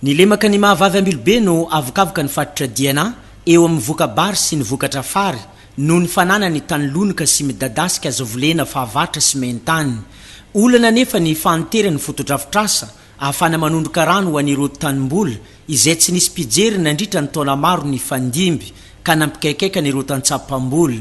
Ny lemaka ny maha vavy Ambilobe no avokavoka ny fatotra DNA eo amin'ny voka-bary sy ny vokatra fary noho ny fananany tany lonoka sy midadasika azo volena fahavatra sy main-tany. Olana anefa ny fahanteran'ny fotodrafitrasa ahafahana manondroka rano ho an'ireo tanimboly izay tsy nisy mpijery nandritra ny taona maro nifandimby ka nampikaikaika an'ireo tantsaha mpamboly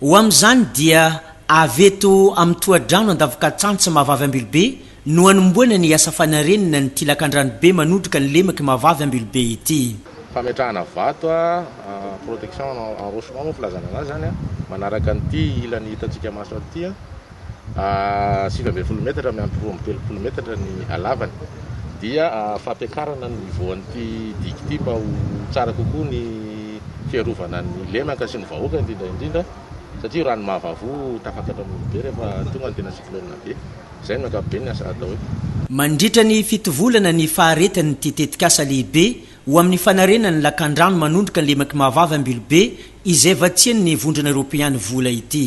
Ho amin'izany dia avy eto amin'ny tohadrano Andavokatsantsy Mahavavy Ambilobe no hanomboana ny asa fanarenana ny tilakan-dranobe manodrika ny lemak'i Mahavavy Ambilobe ity. Fametrahana vato, protection en rochement moa filazana an'azy izany, manaraka an'ity ilany hitantsika maso ity. sivy ambin'ny folo metatra miampy roa amby telopolo metatra ny halavany dia fampiakarana ny niveau an'ity digue ity mba ho tsara kokoa ny fiarovana ny lemaka sy ny vahoaka indrindra indrindra satria io rano mahavavo tafaka eto amin'ny be rehefa tonga ny tena cyclone be izay ny ankapobeny ny asa atao eto Mandritra ny fito volana ny faharetan'ity tetikasa lehibe ho amin'ny fanarenan'ny lakandrano manondroka ny lemak'i Mahavava Ambilobe izay vatsian'ny Vondrona Eoropeany vola ity.